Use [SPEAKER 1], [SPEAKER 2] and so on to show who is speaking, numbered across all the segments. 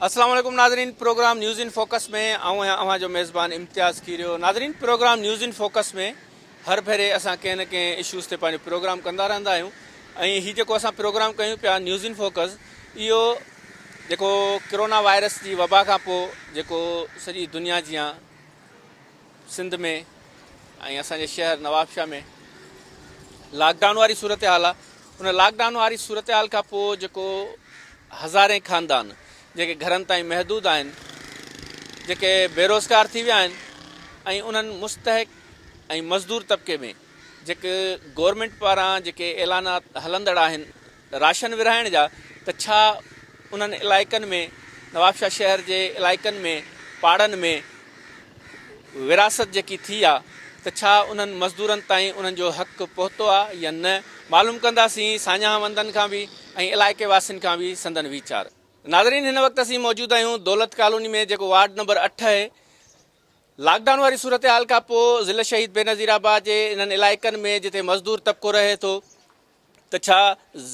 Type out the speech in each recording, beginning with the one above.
[SPEAKER 1] السلام عليڪم ناظرين پروگرام نيوز ان فوڪس ۾ آئون آهيان اوهان جو ميزبان امتياز کيريو ناظرين پروگرام نيوز ان فوڪس ۾ هر ڀيري اسان ڪنهن نه ڪنهن اشوز تي پنهنجو پروگرام ڪندا رهندا آهيون ۽ هي جيڪو اسان پروگرام ڪيون پيا نيوز ان فوڪس اهو جيڪو ڪرونا وائرس جي وبا کان پوء جيڪو سڄي دنيا جيان سنڌ ۾ ۽ اسان جي شهر نوابشاهه ۾ لاڪ ڊائون واري صورتحال آ ان لاڪ ڊائون واري صورتحال کان پوء جيڪو هزارين خاندان جيڪي گهرن تائين محدود آهن جيڪي بيروزگار ٿي ويا آهن ۽ انهن مستحق ۽ مزدور طبقي ۾ جيڪي گورنمينٽ پاران جيڪي اعلانات هلندڙ آهن راشن ورهائڻ جا ته ڇا انهن علائقن ۾ نوابشاهه شهر جي علائقن ۾ پاڙن ۾ ورهاست جيڪي ٿي آ ته ڇا انهن مزدورن تائين انهن جو حق پهتو آ يا نه معلوم ڪنداسين ساڃاهه وندن کان به ۽ علائقي واسين کان به سندن ويچار. ناظرين هن وقت اسين موجود آهيون دولت ڪالوني ۾ جيڪو وارڊ نمبر اٺ اهي لاڪ ڊائون واري صورتحال کان پو ضلع شهيد بينظير آباد جي انهن علائقن ۾ جتي مزدور طبقو رهي ٿو ته ڇا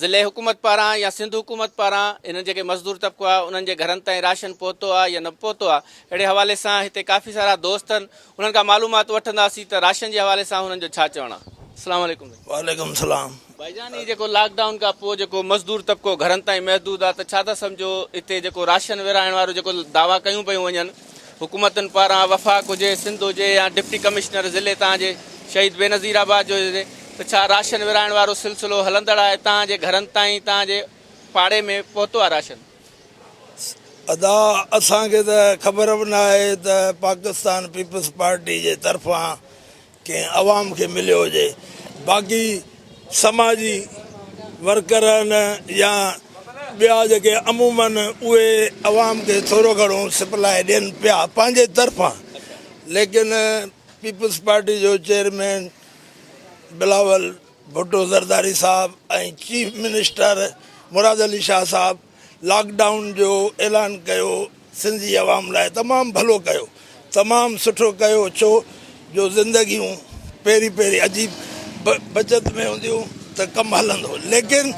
[SPEAKER 1] ضلعي حڪومت پاران يا سنڌ حڪومت پاران هنن جيڪي مزدور طبقو آهي انهن جي گهرن تائين راشن پهتو آهي يا نه پهتو آهي اهڙي حوالي سان هتي ڪافي سارا دوست آهن انهن کان معلومات وٺنداسين ته راشن جي حوالي سان هنن جو ڇا چوڻ آهي اسلام عليڪم سائين. وعليڪم السلام.
[SPEAKER 2] ڀائي جان هي جيڪو لاڪ
[SPEAKER 1] ڊائون کان پوء جيڪو مزدور طبقو گهرن تائين محدود آهي ته ڇا ٿا سمجهو هتي جيڪو راشن ورهائڻ وارو جيڪو دعويٰ ڪيون پيون وڃن حڪومتن پاران وفاق هجي، سنڌ هجي يا ڊپٽي ڪمشنر ضلعي تان جي شهيد بينظير آباد جو هجي ته ڇا راشن ورهائڻ وارو سلسلو هلندڙ آهي تان جي گهرن تائين تان جي پاڙي ۾ پهتو آهي راشن.
[SPEAKER 2] ادا اسان کي ته خبر به نه آهي ته پاڪستان پيپلز پارٽي جي طرفان ڪنهن عوام کي مليو هجي باقي سماجي ورڪرن يا ٻيا جيڪي عمومن اهي عوام کي ٿورو گهڻو سپلاء ڏين پيا پنهنجي طرفان ليڪن پيپلز پارٽي جو چيئرمين بلاول ڀٽو زرداري صاحب ۽ چيف منسٽر مراد علي شاهه صاحب لاڪ ڊائون جو اعلان ڪيو سنڌ جي عوام لاء تمام ڀلو ڪيو تمام سٺو ڪيو ڇو جو زندگيون پهرين پهرين عجيب بچت ۾ هونديون ته ڪم هلندو ليڪن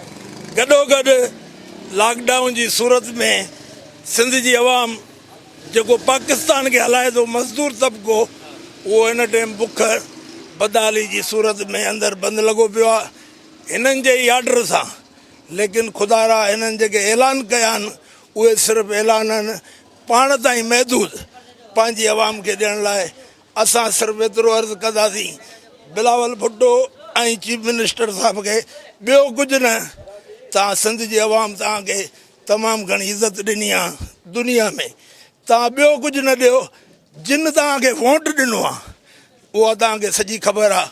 [SPEAKER 2] گڏو گڏ لاڪ ڊائون جي صورت ۾ سنڌ جي عوام جيڪو پاڪستان کي هلائي ٿو مزدور طبقو اهو هن ٽيم بک بدحالي جي صورت ۾ اندر بند لڳو پيو آهي هنن جي ئي آرڊر سان ليڪن خدارا هنن جيڪي اعلان ڪيا آهن اهي صرف اعلان آهن پاڻ تائين محدود پنهنجي عوام کي ڏيڻ لاء اسان صرف ايترو عرض ڪنداسين بلاول ڀٽو ۽ چيف منسٽر صاحب کي ٻيو ڪجهه نه تان سنڌ جي عوام تان کي تمام گهڻي عزت ڏني آهي دنيا ۾ تان ٻيو ڪجهه نه ڏيو جن تان کي ووٽ ڏنو آهي اها تان کي سڄي خبر آهي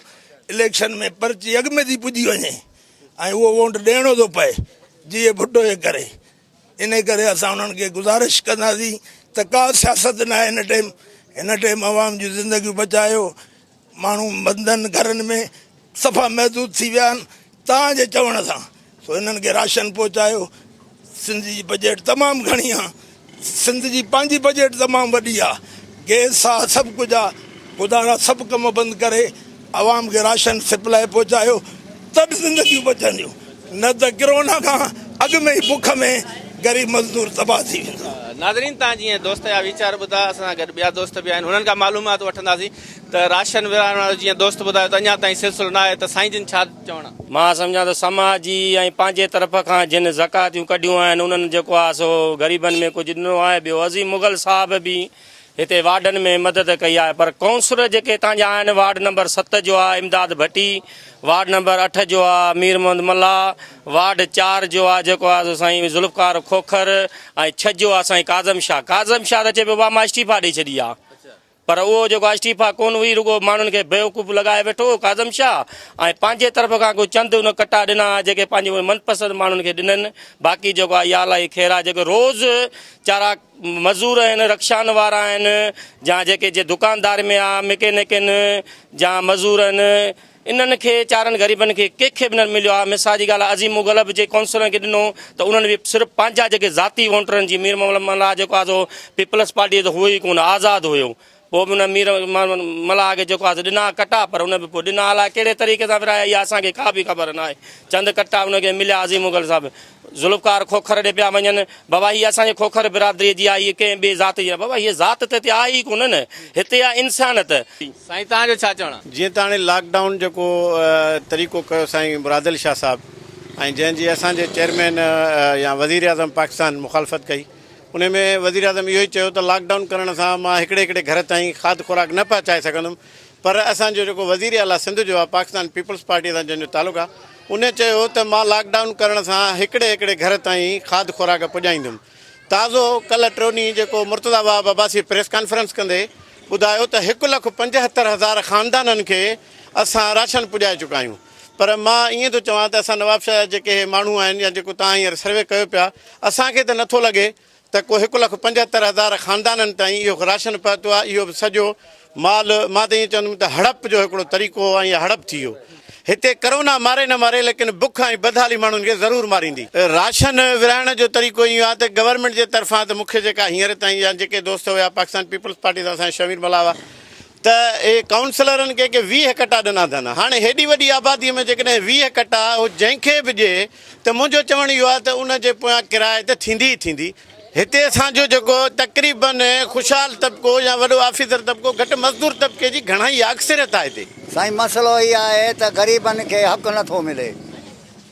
[SPEAKER 2] اليڪشن ۾ پرچي اڳ ۾ ٿي پڄي وڃي ۽ اهو وونٽ ڏيڻو ٿو پئي جيئي ڀٽو جي ڪري ان ڪري اسان انهن کي گذارش ڪنداسين ته ڪا سياست ناهي هن ٽيم هن ٽيم عوام جون زندگيون بچايو ماڻهو بندن گهرن ۾ صفا محدود ٿي ويا آهن تان جي چوڻ سان سو انهن کي راشن پهچايو سنڌ جي بجيٽ تمام گهڻي آ سنڌ جي پنهنجي بجيٽ تمام وڏي آ گيس آ سڀ ڪجهه آ خدا را سڀ ڪم بند ڪري عوام کي راشن سپلاء پهچايو ته به زندگيون بچنديون نه ته ڪرونا کان اڳ ۾ ئي بک ۾ غريب مزدور تباهه ٿي ويندو. ناظرين تان جيئن
[SPEAKER 1] دوست جا ويچار ٻڌا اسان سان گڏ ٻيا دوست به آهن انهن کان معلومات وٺنداسين ته راشن ورهائڻ وارو جيئن دوست ٻڌايو ته اڃا تائين سلسلو نه آهي ته سائين جن ڇا مان سمجهان ٿو سماج
[SPEAKER 3] جي ۽ پنهنجي طرف کان جن زڪواتيون ڪڍيون آهن انهن جيڪو آهي سو غريبن ۾ ڪجهه ڏنو آهي ٻيو عظيم مغل صاحب به هتي وارڊن ۾ مدد ڪئي آهي پر ڪونسلر جيڪي هتان جا آهن وارڊ نمبر ست جو آهي امداد ڀٽي وارڊ نمبر اٺ جو آهي مير محمد ملاح وارڊ چار جو آهي جيڪو آهي سو سائين ذوالفقار کوکر ۽ ڇهه جو آهي سائين ڪاظم شاهه ڪاظم شاهه ته چئي پيو بابا مان استعيفا ڏئي ڇڏي آهي پر اهو جيڪو آئسٽيفا ڪونه هئي رڳو ماڻهن کي بيوقوف لڳائي ويٺو هو ڪاظم شاهه ۽ پنهنجي طرف کان ڪو چند ان ڪٽا ڏنا ها جيڪي پنهنجي اهي من پسند ماڻهن کي ڏنن باقي جيڪو آهي يا الله جي خير آهي جيڪو روز چارا مزور آهن رڪشان وارا آهن جا جيڪي جي دڪاندار ۾ آهي مڪينڪ آهن جا مزور آهن انهن کي چارن غريبن کي ڪنهن کي به نه مليو آهي مثال جي ڳالهه آهي عظيم مغل به جي ڪونسلرن کي ڏنو ته انهن به صرف پنهنجا جيڪي ذاتي وونٽرن جي مير محمد ملاح جيڪو آهي سو پيپلز پارٽي جو ته هو ئي ڪونه آزاد هيو پوء به ان مير محمد ملاح کي جيڪو آهي سو ڏنا ڪٽا پر ان به پوء ڏنا الاء ڪهڙي طريقي سان ورهايا اها اسان کي ڪا به خبر ناهي چند ڪٽا ان کي مليا عظيم مغل صاحب ذوالفقار کوکر ڏي پيا وڃن. بابا هيء اسان جي کوکر برادريء جي آ، هيء ڪنهن ٻئي ذات جي نه. بابا هيء ذات ته هتي آ ئي ڪونه نه، هتي آ انسانت. سائين توهان جو
[SPEAKER 1] ڇا چوڻ آ؟ جيئن ته هاڻي لاڪ ڊائون
[SPEAKER 4] جيڪو طريقو ڪيو سائين مراد علي شاهه صاحب ۽ جنهن جي اسان جي چيئرمين يا وزير اعظم پاڪستان مخالفت ڪئي انهي ۾ وزير اعظم اهو ئي چيو ته لاڪ ڊائون ڪرڻ سان مان هڪڙي هڪڙي گهر تائين کاڌ خوراڪ نه پهچائي سگهندم پر اسان جو جيڪو وزير اعليٰ سنڌ جو آهي پاڪستان پيپلز پارٽيء سان جنهن جو تعلق آهي ان چيو ته مان لاڪ ڊائون ڪرڻ سان هڪڙي هڪڙي گهر تائين کاڌ خوراڪ پڄائيندم تازو ڪلهه ٽيون ڏينهن جيڪو مرتضيٰ وهاب عباسيء پريس ڪانفرنس ڪندي ٻڌايو ته هڪ لک پنجهتر هزار خاندانن کي اسان راشن پڄائي چڪا آهيون پر مان ائين ٿو چوان ته اسان نوابشاهه جا جيڪي هي ماڻهو آهن يا جيڪو توهان هينئر سروي ڪيو پيا اسان کي ته نٿو لڳي ته ڪو هڪ لک پنجهتر هزار خاندانن تائين اهو راشن پهتو آهي، اهو به سڄو مال مان ته ائين چوندم ته هڙپ جو هڪڙو طريقو هو ۽ اها هڙپ ٿي هو. هتي ڪرونا ماري نه ماري ليڪن بک ۽ بدحالي ماڻهن کي ضرور ماريندي. راشن ورهائڻ جو طريقو ائين آهي ته گورنمينٽ جي طرفان ته مون کي جيڪا هينئر تائين يا جيڪي دوست هيا پاڪستان پيپلز پارٽي سان اسان جا شمير ملاح هئا، ته اهي ڪائونسلرن ڪنهن کي ويهه ڪٽا ڏنا اٿن. هاڻي هيڏي وڏي آباديء ۾ جيڪڏهن ويهه ڪٽا هو جنهن کي به ڏئي ته منهنجو چوڻ اهو آهي ته ان جي پويان ڪرائي ته ٿيندي ئي ٿيندي. هتي اسان جو جيڪو تقريباً خوشحال طبقو يا وڏو آفيسر طبقو گهٽ مزدور طبقي جي گهڻائي آهي، اڪثريت آهي هتي. سائين مسئلو هي
[SPEAKER 5] آهي ته غريبن کي حق نه ٿو ملي.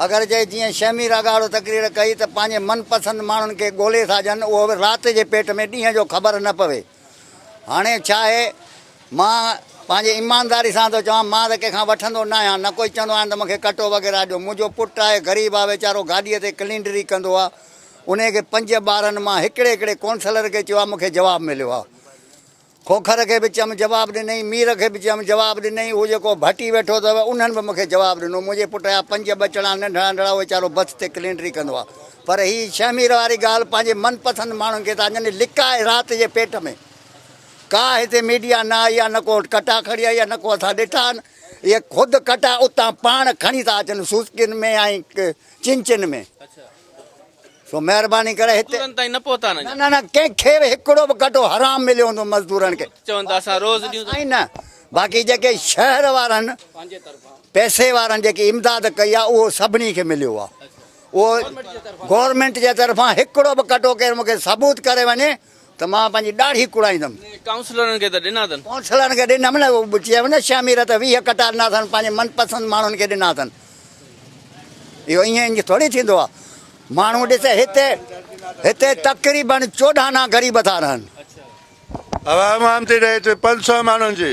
[SPEAKER 5] اگر جي جيئن شهمير اگهاڙو تقرير ڪئي ته پنهنجي من پسند ماڻهن کي ڳولي ساجن اهو به رات جي پيٽ ۾ ڏينهن جو خبر نه پوي. هاڻي ڇا آهي، مان پنهنجي ايمانداري سان ٿو چوان، مان ته ڪنهن کان وٺندو نه آهيان، نه ڪوئي چوندو آهيان ته مون کي ڪٽو وغيره ڏيو. منهنجو پٽ آهي، غريب آهي ويچارو، گاڏيء تي ڪلينڊري ڪندو آهي. انهيء کي پنج ٻارن مان هڪڙي هڪڙي قونصلر کي چيو آهي، مون کي جواب مليو آهي. کوکر کي به چيم، جواب ڏنئين، مير کي به چيم، جواب ڏنئين، هو جيڪو ڀٽي ويٺو اٿئو، انهن به مون کي جواب ڏنو. منهنجي پٽ جا پنج ٻچڙا ننڍڙا ننڍڙا، اهو ويچارو بٿ تي ڪلينڊري ڪندو آهي. پر هي شهمير واري ڳالهه پنهنجي من پسند ماڻهن کي ٿا ڄڻي لڪائي رات جي پيٽ ۾. ڪا هتي ميڊيا نه آئي آ نه ڪو ڪٽا کڻي آئي آ نه ڪو اسان ڏٺا آهن. اهي خود ڪٽا اتان پاڻ کڻي ٿا اچن سوسڪين ۾ ۽ چنچن ۾. سو مهرباني ڪري هتي. مزدورن تائين نه پهتا آهن اڃا. نه
[SPEAKER 1] نه ڪنهن کي به
[SPEAKER 5] هڪڙو به ڪٽو حرام مليو هوندو مزدورن کي. چون ته اسان روز
[SPEAKER 1] ڏيون ٿا. سائين نه باقي
[SPEAKER 5] جيڪي شهر وارن پئسي وارن جيڪي امداد ڪئي آ اهو سڀني کي مليو آ. اهو گورنمينٽ جي طرفان هڪڙو به ڪٽو ڪير مون کي ثبوت ڪري وڃي ته مان پنهنجي ڏاڙهي ڪڙائيندم. ڪائونسلرن کي ته ڏنا
[SPEAKER 1] اٿن. ڪائونسلرن کي ڏنم نه
[SPEAKER 5] اهو چيم نه ڇهه مير ته ويهه ڪٽا ڏنا اٿن پنهنجي من پسند ماڻهن کي ڏنا اٿن اهو ائين انج ٿوري ٿيندو آهي ماڻهو ڏس هتي هتي تقريبن چوڏهن آنا غريب ٿا رهن.
[SPEAKER 6] عوام عام تي ڏهي ٿي پنج سؤ ماڻهن جي.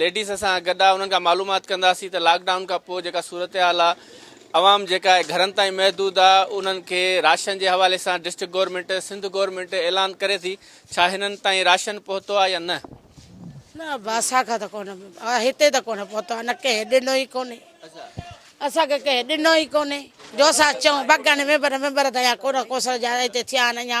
[SPEAKER 1] ليڊيز اسان گڏ آهي انهن کان معلومات ڪنداسين ته لاڪ ڊائون کان پوء جيڪا صورتحال آهي عوام جيڪا آهي گهرن تائين محدود آهي انهن کي راشن جي حوالي سان ڊسٽرڪٽ گورنمينٽ سنڌ گورنمينٽ اعلان ڪري ٿي ڇا هنن تائين راشن پهتو آهي يا نه؟ نه ابا
[SPEAKER 7] اسان کان ته ڪونه هتي ته ڪونه پهتو آهي نه ڪنهن ڏنو ئي ڪونهي اسان کي ڪنهن ڏنو ئي ڪونهي جو اسان چئون بگهن ميمبر ميمبر ته اڃا ڪونه ڪوسل جا هتي ٿيا آهن اڃا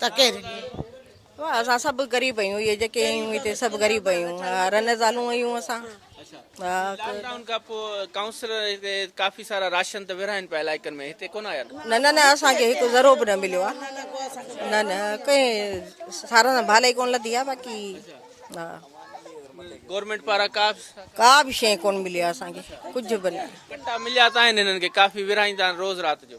[SPEAKER 7] ته ڪير
[SPEAKER 8] واه اسان سڀ غريب اهيون اهي جيڪي اهيون هتي
[SPEAKER 7] سڀ
[SPEAKER 8] غريب اهيون رن زالون اهيون اسان لاڪ ڊائون کان
[SPEAKER 1] پوء ڪائونسلر هتي ڪافي سارا راشن ته ورهائن پيا علائقن ۾ هتي ڪونه آيا نه نه نه اسان کي هڪ
[SPEAKER 8] ذرو به نه مليو آهي نه نه ڪنهن سارا سان ڀال ئي ڪونه لڌي آهي باقي ها
[SPEAKER 1] گورنمينٽ پاران ڪا ڪا به شيء
[SPEAKER 8] ڪونه ملي آهي اسان کي ڪجهه به نه ڪٽا مليا ته آهن
[SPEAKER 1] هنن کي ڪافي ورهائيندا آهن روز رات جو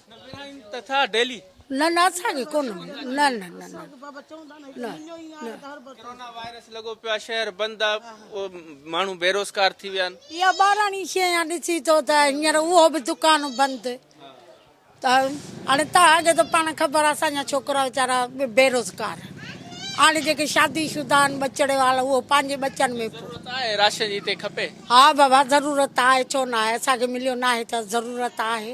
[SPEAKER 7] تٿا
[SPEAKER 1] ڊيلي. نه نه اسان کي
[SPEAKER 7] ڪونه مليو نه نه نه نه ڪرونا
[SPEAKER 1] وائرس لڳو پيو آ شهر بند آ ماڻهو بيروزگار ٿي ويا آهن. اها ٻاراڻي شين
[SPEAKER 7] آ ڏسي ٿو ته هينئر اهو به دڪان بند ته هاڻي تان اڳي ته پاڻ خبر آ اسان جا ڇوڪرا ويچارا بيروزگار هاڻي جيڪي شادي شده آهن ٻچڙي وارا اهو پنهنجي ٻچن ۾ ضرورت آهي راشن جي
[SPEAKER 1] هتي کپي. ها بابا
[SPEAKER 7] ضرورت آهي ڇو نه آهي اسان کي مليو ناهي ته ضرورت آهي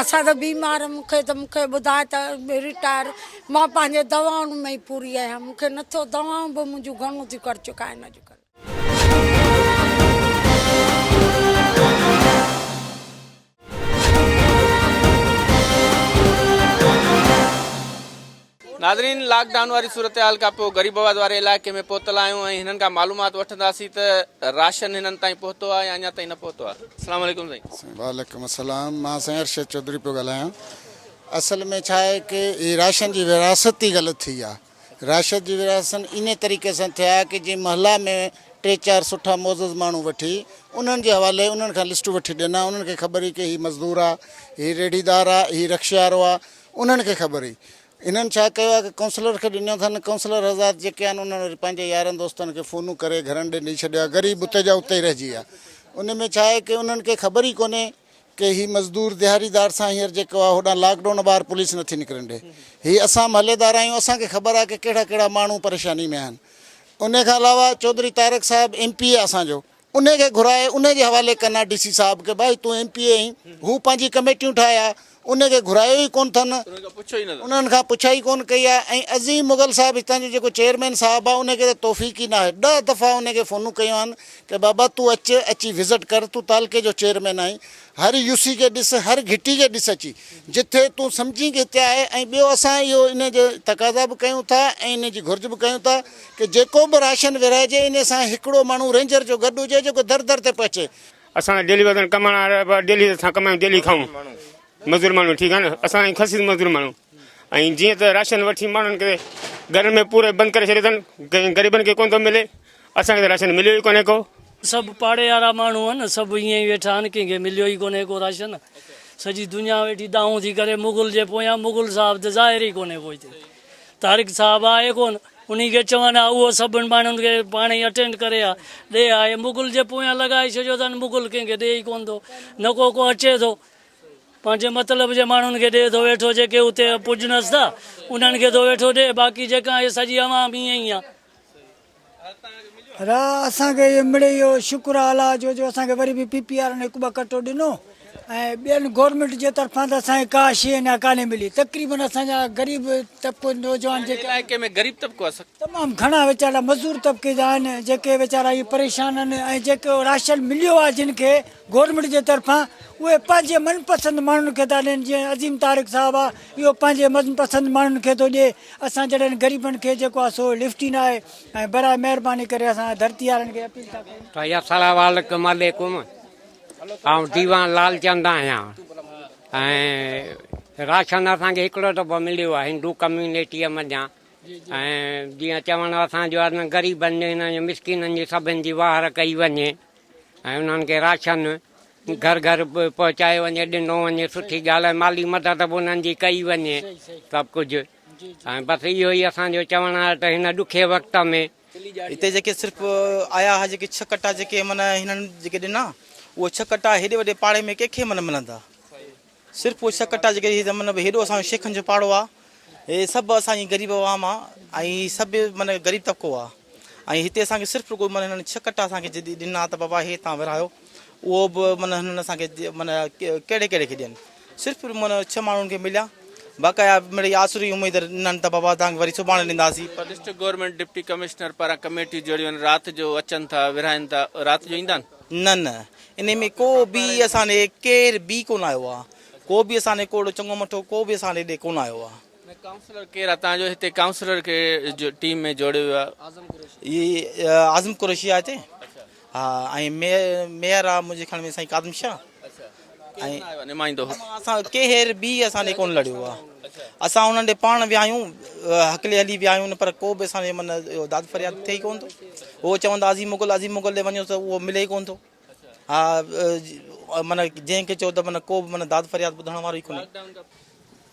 [SPEAKER 7] اسان ته بيمار مون کي ته مون کي ٻڌاء ته رٽائر مان پنهنجي دوائن ۾ ئي پوري آهيان مون کي نٿو دوائون به منهنجون گهڻو ٿيون ڪر چڪائن اڄ ڪلهه. ناظرين لاڪ ڊائون واري صورتحال کان پوء غريب آباد واري علائقي ۾ پهتل آهيون ۽ هنن کان معلومات وٺنداسين ته راشن هنن تائين پهتو آهي يا اڃا تائين نه پهتو آهي السلام عليڪم سائين وعليڪم السلام
[SPEAKER 9] مان سائين ارشد چوڌري پيو ڳالهايان اصل ۾ ڇا آهي ڪي هي راشن جي ورهاستي غلط ٿي آهي راشد جي ورهاستن انهي طريقي سان ٿيا ڪي جي محلا ۾ ٽي چار سٺا معزز ماڻهو وٺي انهن جي حوالي انهن کان لسٽون وٺي ڏنا انهن کي خبر هئي ڪي هي مزدور آهي هي ريڙهيدار آهي هي رڪشي وارو آهي انهن کي خبر هئي انهن ڇا ڪيو آهي ڪي ڪائونسلر کي ڏنو اٿن ڪائونسلر حضرات جيڪي آهن انهن وري پنهنجي يارن دوستن کي فونون ڪري گهرن ڏي ڏئي ڇڏيو آهي غريب اتي جا اتي ئي رهجي ويا ان ۾ ڇا آهي ڪي انهن کي خبر ئي ڪونهي ڪي هي مزدور دهاڙي دار سان هينئر جيڪو آهي هوڏانهن لاڪ ڊائون ٻاهر پوليس نٿي نڪرڻ ڏئي هي اسان محليدار آهيون اسان کي خبر آهي ڪي ڪهڙا ڪهڙا ماڻهو پريشاني ۾ آهن انهي کان علاوه چوڌري طارق صاحب ايم پي اي اسان جو انهي کي گهرائي انهي جي حوالي ڪن ها ڊي سي صاحب کي ڀائي تون ايم پي اي آهين هو پنهنجي ڪميٽيون ٺاهي ها انهي کي گهرايو ئي ڪون ٿن انهن کان پڇا ئي ڪون ڪئي آهي ۽ عظيم مغل صاحب هتان جو جيڪو چيئرمين صاحب آهي انهي کي ته توفيق ئي ناهي ڏهه دفعا انهي کي فونون ڪيون آهن ڪي بابا تون اچ اچي وزٽ ڪر تون تعلقي جو چيئرمين آهين هر يو سي کي ڏس هر گهٽي کي ڏس اچي جتي تون سمجهين ڪي هتي آهي ۽ ٻيو اسان اهو انهي جي تقاضا به ڪيون ٿا ۽ انهي جي گهرج به ڪيون ٿا ڪه جيڪو به راشن ورهائجي انهي سان هڪڙو ماڻهو رينجر جو گڏ هجي جيڪو در در تي پهچي. اسان ته ڊيلي وطن
[SPEAKER 3] ڪمائڻ وارا آهيون ڊيلي اسان ڪمايون ڊيلي کائون مزور ماڻهو ٺيڪ آهي نه اسان آهيون خسيس مزور ماڻهو ۽ جيئن ته راشن وٺي ماڻهن کي گهرن ۾ پوري بند ڪري ڇڏيو اٿن ڪنهن غريبن کي ڪونه ٿو ملي اسان کي ته راشن مليو ئي ڪونه ڪو. سڀ پاڙي
[SPEAKER 10] وارا ماڻهو آهن سڀ ائين ئي ويٺا آهن ڪنهن کي مليو ئي ڪونه ڪو راشن سڄي دنيا ويٺي دانهون ٿي ڪري مغل جي پويان مغل صاحب ته ظاهر ئي ڪونه ڪو هتي. طارق صاحب آء ڪون انهي کي چوان ها اهو سڀن ماڻهن کي پاڻ ئي اٽينڊ ڪري ها ڏي ها اهي مغل جي پويان لڳائي ڇڏيو اٿن مغل ڪنهن کي ڏي ئي ڪون ٿو نه ڪو ڪو اچي ٿو پنهنجي مطلب جي ماڻهن کي ڏي ٿو ويٺو جيڪي اتي پڄنس ٿا انهن کي ٿو ويٺو ڏي باقي جيڪا هي سڄي عوام ائين ئي آ را
[SPEAKER 11] اسان کي اهو مڙئي اهو شڪر آ الله جو جو اسان کي وري به پي پي وارن هڪ ٻه ڪٽو ڏنو ۽ ٻين گورنمينٽ جي طرفان ته اسان کي ڪا شي اڃا ڪانهي ملي تقريبن اسان جا غريب طبقو نوجوان جيڪي آهن علائقي ۾ غريب طبقو آهي
[SPEAKER 1] سخت تمام گهڻا ويچارا
[SPEAKER 11] مزور طبقي جا آهن جيڪي ويچارا اهي پريشان آهن ۽ جيڪو راشن مليو آهي جن کي گورنمينٽ جي طرفان اهي پنهنجي من پسند ماڻهن کي ٿا ڏين جيئن عظيم طارق صاحب آ اهو پنهنجي من پسند ماڻهن کي ٿو ڏي اسان جهڙن غريبن کي جيڪو آ سو لفٽ ئي ناهي ۽ برائي مهرباني ڪري اسان ڌرتي وارن کي اپيل ٿا ڪريون ته
[SPEAKER 12] السلام
[SPEAKER 11] عليڪم
[SPEAKER 12] آئون ديوان
[SPEAKER 11] لالچند
[SPEAKER 12] آهيان ۽ راشن اسان کي هڪڙو دفعو مليو آهي هندو ڪميونٽيء منجهان ۽ جيئن چوڻ اسان جو آهي غريبن جي هنن جي مسڪينن جي سڀن جي واهر ڪئي وڃي ۽ انهن کي راشن گهر گهر پهچايو وڃي ڏنو وڃي سٺي ڳالهه مالي مدد به انهن جي ڪئي وڃي سڀ ڪجهه ۽ بس اهو ئي اسان جو چوڻ آهي ته هن ڏکي وقت ۾ هتي جيڪي
[SPEAKER 13] صرف آيا ها جيڪي ڇهه ڪٽا جيڪي من هنن جيڪي ڏنا اهي ڇهه ڪٽا هيڏي وڏي پاڙي ۾ ڪنهن کي من ملندا. صرف اهو شڪ ٽا جيڪي هي مطلب هيڏو اسان جو شيخن جو پاڙو آ هي سڀ اسان جي غريب عوام آ ۽ هي سڀ مطلب غريب طبقو آ ۽ هتي اسان کي صرف رڳو مطلب هنن شڪ ٽا اسان کي جدي ڏنا ته بابا هي تان ورهايو اهو به مطلب هنن اسان کي مطلب ڪهڙي ڪهڙي کي ڏين صرف مطلب ڇهه ماڻهن کي مليا باقايا مڙي آسري اميد ڏنن ته بابا تان وري سڀاڻي ڏينداسي پر ڊسٽرڪٽ گورنمينٽ
[SPEAKER 1] ڊپٽي ڪمشنر پاران ڪميٽيون جوڙيون آهن رات جو اچن ٿا ورهائين ٿا رات جو ايندا آهن؟ نه نه انهي
[SPEAKER 13] ۾ ڪو به اسان ڏي ڪير به ڪونه آيو آهي ڪو به اسان ڏي ڪو اهڙو چڱو مٺو ڪو به اسان ڏي ڪونه آيو آهي. نه ڪائونسلر ڪير آهي تهان
[SPEAKER 1] جو هتي ڪائونسلر کي ٽيم ۾ جوڙيو ويو آهي اعظم قريشي اعظم
[SPEAKER 13] قريشي آهي هتي ها ۽ ميئر آهي منهنجي خيال ۾ سائين ڪاظم شاهه اهي ڪير نه آيو آهي نمائندو اسان
[SPEAKER 1] ڪير
[SPEAKER 13] به اسان ڏي ڪونه لڙيو آهي. اسان انهن ڏي پاڻ ويا آهيون، هڪلي هلي ويا آهيون پر ڪو به اسان ڏي من اهو داد فرياد ٿئي ئي ڪونه ٿو. اهو چوندا عظيم مغل عظيم مغل ڏي وڃو ته اهو ملي ئي ڪونه ٿو. ها من جنهن کي چئو ته من ڪو به من داد فرياد ٻڌڻ وارو ئي ڪونهي.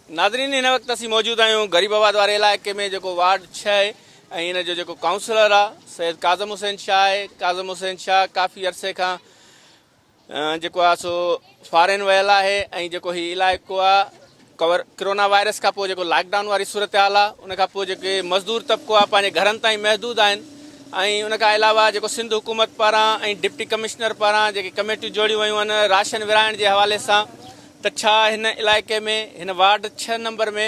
[SPEAKER 13] ناظرين
[SPEAKER 1] هن وقت اسين موجود آهيون غريب آباد واري علائقي ۾ جيڪو وارڊ ڇهه آهي ۽ ان جو جيڪو ڪائونسلر آهي سيد ڪاظم حسين شاهه آهي ڪاظم حسين شاهه ڪافي عرصي کان جيڪو آ سو فارين ويل آهي ۽ جيڪو هي علائقو آ ڪور ڪرونا وائرس کان پوء جيڪو لاڪ ڊائون واري صورتحال آ ان کان پوء جيڪي مزدور طبقو آ پنهنجي گهرن تائين محدود آهن ۽ ان کان علاوه جيڪو سنڌ حڪومت پاران ۽ ڊپٽي ڪمشنر پاران جيڪي ڪميٽيون جوڙيون ويون آهن راشن ورهائڻ جي حوالي سان ته ڇا هن علائقي ۾ هن وارڊ ڇهه نمبر ۾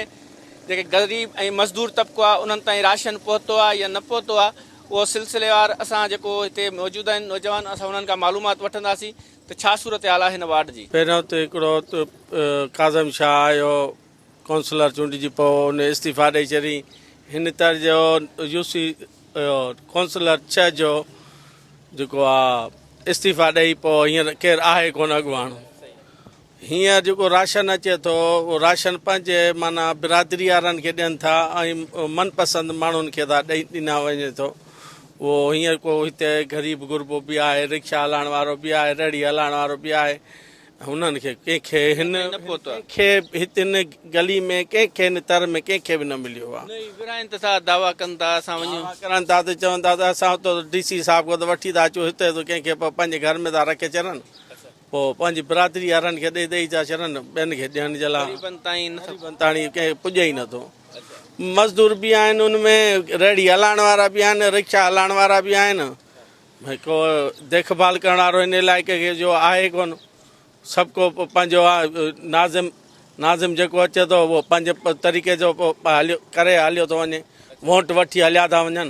[SPEAKER 1] جيڪي غريب ۽ مزدور طبقو آ انهن تائين راشن پهتو آ يا نه پهتو آ اهو سلسليوار اسان جيڪو هتي موجود آهن نوجوان اسان انهن کان معلومات وٺنداسين ته ڇا صورتحال آهي هن وارڊ جي. پهريون ته هڪڙو
[SPEAKER 4] ڪاظم شاهه آيو ڪونسلر چونڊجي پوء ان استعيفا ڏئي ڇڏي هن تر جو يو سي ڪونسلر ڇهه جو جيڪو آ استعيفا ڏئي پوء هينئر ڪير آهي ڪونه اڳواڻ. هينئر جيڪو راشن اچي ٿو اهو راشن پنهنجي معنيٰ برادري وارن کي ڏين ٿا ۽ من پسند ماڻهن کي ٿا ڏئي ڏنا وڃي ٿو اهو هينئر ڪو هتي غريب غربو به آهي رڪشا هلائڻ وارو به آهي ريڙهي هلائڻ وارو به آهي هنن کي ڪنهن کي هن کي هتن گلي ۾ ڪنهن کي هن تر ۾ ڪنهن کي به نه مليو آهي نه ورهائن ته ٿا دعويٰ ڪن ٿا اسان
[SPEAKER 1] وڃون دعويٰ ڪرن ٿا ته چون ٿا
[SPEAKER 4] ته اسان اتو ڊي سي صاحب کان ته وٺي ٿا اچون هتي ته ڪنهن کي پنهنجي گهر ۾ ٿا رکي ڇڏن پوء پنهنجي برادري وارن کي ڏئي ڏئي ٿا ڇڏن ٻين کي ڏيڻ جي لاء غريبن تائين ڪنهن کي پڄي ئي نٿو. مزدور به آهن ان ۾ ريڙهي هلائڻ وارا به آهن رڪشا هلائڻ وارا به آهن ڀئي ڪو ديک ڀال ڪرڻ وارو هن علائقي کي جو آهي ڪون سڀ ڪو پنهنجو ناظم ناظم جيڪو اچي ٿو اهو پنهنجي طريقي جو هليو ڪري هليو ٿو وڃي ووٽ وٺي هليا ٿا وڃن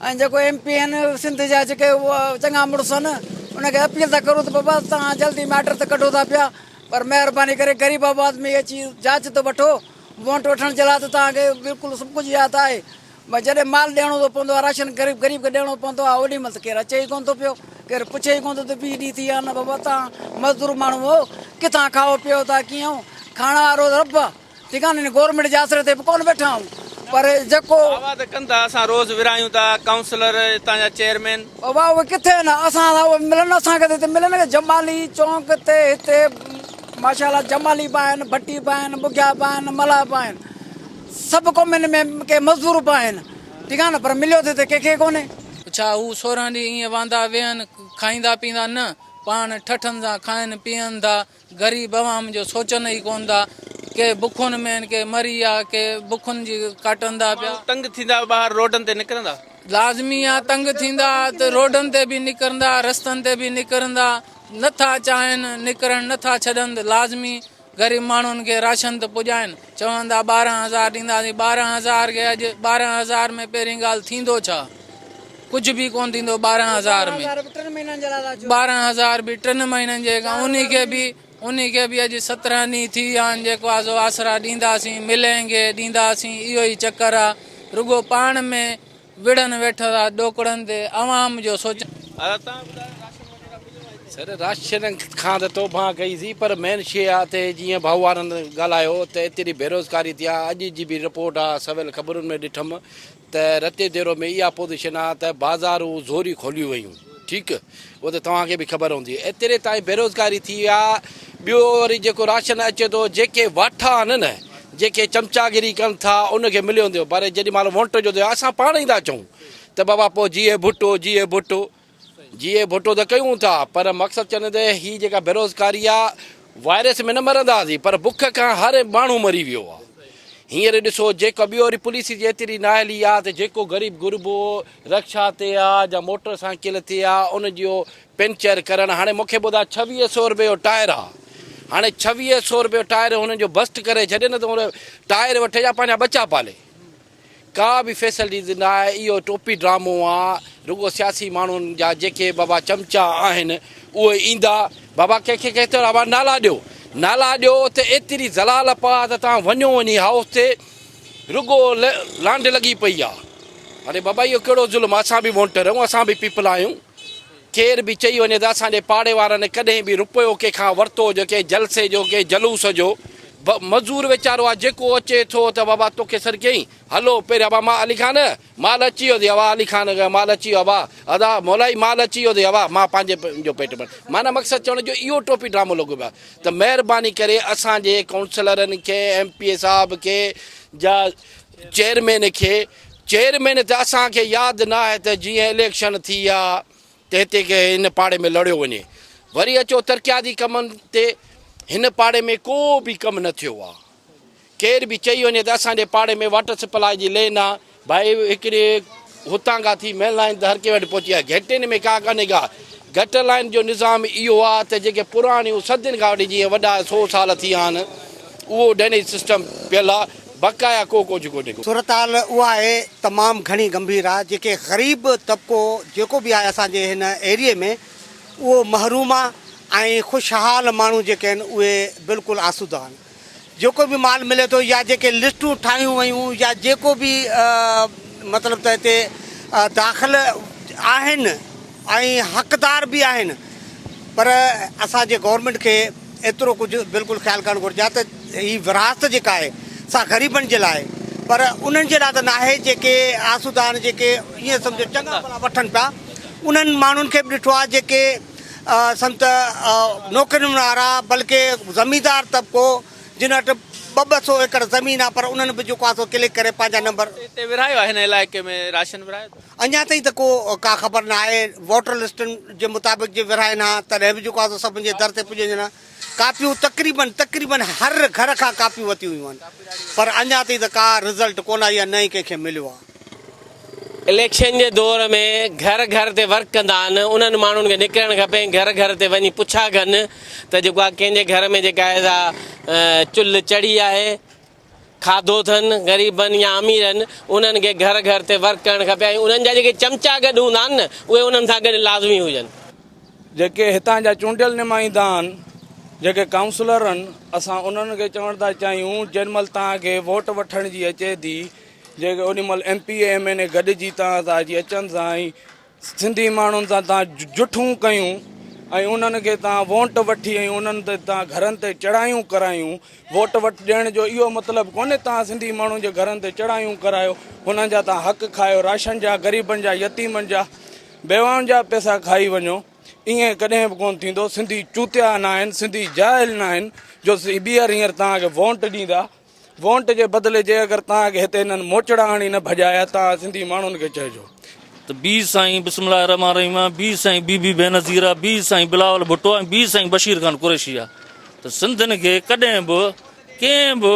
[SPEAKER 11] ۽ جيڪو ايم پي اين سنڌ جا جيڪي چڱا مڙس ان ان کي اپيل ٿا ڪرون ته بابا توهان جلدي ميٽر ته ڪڍو ٿا پيا پر مهرباني ڪري غريب آباد ۾ اچي جاچ ته وٺو ووٽ وٺڻ جي لاء ته توهان کي بلڪل سڀ ڪجهه ياد آهي بس جڏهن مال ڏيڻو ٿو پوندو آهي راشن غريب غريب کي ڏيڻو پوندو آهي اوڏي مهل ته ڪير اچي ئي ڪونه ٿو پيو ڪير پڇي ئي ڪونه ٿو ته بيهي ڏي ٿي يا نه بابا توهان مزدور ماڻهو هو ڪٿان کائو پيئو ٿا ڪيئن کاڻا وارو رب ٺڪاني نه گورنمينٽ جي آسري تي به ڪونه ويٺا آهيون پر جيڪو. واهه ته ڪن ٿا اسان
[SPEAKER 1] روز ورهايون ٿا ڪائونسلر اتان جا چيئرمين. واهه اهي ڪٿي آهن
[SPEAKER 11] اسان سان اهي ملن اسان کي ته هتي ملن جمالي چونڪ تي هتي ماشاءالله جمالي به آهن ڀٽي به آهن ٻگهيا به آهن ملاح به آهن سڀ قومين ۾ ڪي مزدور به آهن ٺيڪ آهي نه پر مليو ته هتي ڪنهنکي ڪونهي. ڇا هو سورهن
[SPEAKER 14] ڏينهن ائين واندا ويهن کائيندا پيئندا نه پاڻ ٺٺن سان کائن پيئن ٿا غريب عوام جو سوچن ئي ڪون ٿا. ڪي بکن ۾ آهن، ڪي مري آ، ڪي بکن جي ڪاٽندا پيا. ماڻهو تنگ ٿيندا ٻاهر
[SPEAKER 1] روڊن تي نڪرندا. لازمي آ
[SPEAKER 14] تنگ ٿيندا ته روڊن تي به نڪرندا رستن تي به نڪرندا نه ٿا چاهين نڪرڻ نه ٿا ڇڏن ته لازمي غريب ماڻهن کي راشن ته پڄائين چوندا ٻارهن هزار ڏينداسين ٻارهن هزار کي اڄ ٻارهن هزار ۾ پهرين ڳالهه ٿيندو ڇا؟ ڪجهه به ڪونه ٿيندو ٻارهن هزار ۾ ٻارهن هزار به ٽن مهينن جي ان کي به ان کي به اڄ سترهن ڏينهن ٿي ويا آهن جيڪو آزو آسرا ڏينداسين ملينگي ڏينداسين اهو ئي چڪر آ رڳو پاڻ ۾ وڙهن ويٺل آ ڏوڪڙن تي عوام جو سوچن
[SPEAKER 15] سر راشن کان ته توبه ڪئي سي پر مين شي آ تي جيئن ڀائو وارن ڳالهايو ته ايتري بيروزگاري ٿي آ اڄ جي به رپورٽ آ سول خبرن ۾ ڏٺم ته رتي ديرو ۾ اها پوزيشن آ ته بازارون زوري کوليون ويون ٺيڪ اهو ته توهان کي به خبر هوندي ايتري تائين بيروزگاري ٿي آ ٻيو وري جيڪو راشن اچي ٿو جيڪي واٺا آهن نه جيڪي چمچاگري ڪن ٿا ان کي مليو ويندو پر جيڏي مهل وونٽ جو ٿيو اسان پاڻ ئي ٿا چئون ته بابا پوء جيئي ڀٽو جيئي ڀٽو جي اهي ڀٽو ته ڪيون ٿا پر مقصد چئنده هي جيڪا بيروزگاري آ وائرس ۾ نه مرنداسين پر بک کان هر ماڻهو مري ويو آ هينئر ڏسو جيڪا ٻيو وري پوليس جي ايتري نااهلي آ ته جيڪو غريب غربو رڪشا تي آ جا موٽر سائيڪل تي آ ان جو پنچر ڪرڻ هاڻي مونکي ٻڌاء ڇويهه سئو رپئي جو ٽائر آ هاڻي ڇويهه سئو رپئي جو ٽائر هنن جو بسٽ ڪري ڇڏين ته ٽائر وٺي جا پنهنجا ٻچا پالي. ڪا به فيسلٽيز نه آهي اهو ٽوپي ڊرامو آ رڳو سياسي ماڻهن جا جيڪي بابا چمچا آهن اهي ايندا بابا ڪنهن کي ڪنهن چيو بابا نالا ڏيو نالا ڏيو ته ايتري زلال پا ته توهان وڃو وڃي هائوس تي رڳو لانڍ لڳي پئي آ اري بابا اهو ڪهڙو ظلم اسان به وونٽر آهيون اسان به پيپل آهيون ڪير به چئي وڃي ته اسان جي پاڙي وارن ڪڏهن به روپيو ڪنهن کان ورتو هجي ڪنهن جلسي جو ڪنهن جلوس جو ب مزور ويچارو آ جيڪو اچي ٿو ته بابا توکي سڏ ڪيائين هلو پهريان ابا مان علي خان مال اچي ويو اٿئي ابا علي خان مال اچي ويو ابا ادا مولائي مال اچي ويو اٿئي ابا مان پنهنجي جو پيٽ ڀر معنيٰ مقصد چوڻ جو اهو ٽوپي ڊرامو لڳو پيو آ ته مهرباني ڪري اسان جي ڪائونسلرن کي ايم پي اي صاحب کي جا چيئرمين کي چيئرمين ته اسان کي ياد نه آهي ته جيئن اليڪشن ٿي ها ته هتي ڪنهن هن پاڙي ۾ لڙيو وڃي وري اچو ترقياتي ڪمن تي هن پاڙي ۾ ڪو به ڪم نه ٿيو آهي ڪير به چئي وڃي ته اسان جي پاڙي ۾ واٽر سپلاء جي لين آهي ڀائي هڪڙي هتان کان ٿي مين لائين تي هر ڪنهن وٽ پهچي آهي. گهٽين ۾ ڪا ڪانهي ڪا. گهٽ لائين جو نظام اهو آهي ته جيڪي پراڻيون صدين کان وٺي جيئن وڏا سو سال ٿي ويا آهن اهو ڊينيج سسٽم پيل آهي بقايا ڪو ڪجهه ڪونهي ڪو. صورتحال اها آهي
[SPEAKER 16] تمام گهڻي گنڀير آهي جيڪي غريب طبقو جيڪو به آهي اسان جي هن ايريي ۾ اهو محروم آهي ۽ خوشحال ماڻهو جيڪي آهن اهي بلڪل آسوده آهن. جيڪو به مال ملي ٿو يا جيڪي لسٽون ٺاهيون ويون يا جيڪو به مطلب ته هتي داخل آهن ۽ حقدار به آهن پر اسان جي گورنمينٽ کي ايترو ڪجهه بلڪل خيال ڪرڻ گهرجي ها ته هي وراثت جيڪا آهي سا غريبن جي لاء پر انهن جي لاء ته ناهي جيڪي آسودا آهن جيڪي ائين سمجهو چڱا ڀلا وٺن پيا انهن ماڻهن کي به ڏٺو آهي جيڪي سنت نوڪرين وارا بلڪه زميندار طبقو جن وٽ ٻه ٻه سو ايڪڙ زمين آ پر انهن به جيڪو آ سو ڪلڪ ڪري پنهنجا نمبر اتي ورهايو آهي هن
[SPEAKER 1] علائقي ۾ راشن ورهايو اٿو. اڃا تائين ته ڪو
[SPEAKER 16] ڪا خبر نه آهي ووٽر لسٽن جي مطابق جي ورهائين ها تڏهن به جيڪو آ سو سڀن جي در تي پڄي وڃن ها. ڪاپيون تقريبن تقريبن هر گهر کان ڪاپيون وتيون ويون آهن پر اڃا تائين ته ڪا رزلٽ ڪونه آئي آهي نه ئي ڪنهن کي مليو آهي.
[SPEAKER 3] اليڪشن جي دور ۾ گهر گهر تي ورڪ ڪندا آهن انهن ماڻهن کي نڪرڻ کپي ۽ گهر گهر تي وڃي پڇا ڪن ته جيڪو آ ڪنهن جي گهر ۾ جيڪا آهي سا چلهه چڙهي آهي. کاڌو اٿن غريبن يا اميرن انهن کي گهر گهر تي ورڪ ڪرڻ کپي ۽ انهن جا جيڪي چمچا گڏ هوندا آهن نه اهي انهن سان گڏ لازمي هجن. جيڪي
[SPEAKER 17] هتان جا چونڊيل نمائندا آهن جيڪي ڪائونسلر آهن اسان انهن کي چوڻ ٿا چاهيون جنهن مهل توهان کي ووٽ وٺڻ جي اچي ٿي جيڪي انهي مهل M P A M N A گڏجي توهان سان اچي اچن سان ۽ سنڌي ماڻهن سان تان جٺون ڪيون ۽ انهن کي تان وونٽ وٺي ۽ انهن تي تان گهرن تي چڙهايون ڪرايون ووٽ وٽ ڏيڻ جو اهو مطلب ڪونهي تان سنڌي ماڻهن جي گهرن تي چڙهايون ڪرايو انهن جا تان حق کايو راشن جا غريبن جا يتيمن جا بيواهن جا پيسا کائي وڃو ائين ڪڏهن به ڪونه ٿيندو سنڌي چوتيا ناهن سنڌي جاهل ناهن جو ٻيهر هينئر تان کي وونٽ ڏيندا وونٽ جي بدلي جي اگر تان اڳي هتي انهن موچڙا آڻي نه ڀڄايا ته آ سنڌي ماڻهن کي چئجو. ته بي
[SPEAKER 18] سائين بسم الله الرحمٰن الرحيم آ بي سائين بي بي بينظير آ بي سائين بلاول ڀٽو آ ۽ بي سائين بشير خان قريشي آ ته سنڌين کي ڪڏهن به ڪنهن به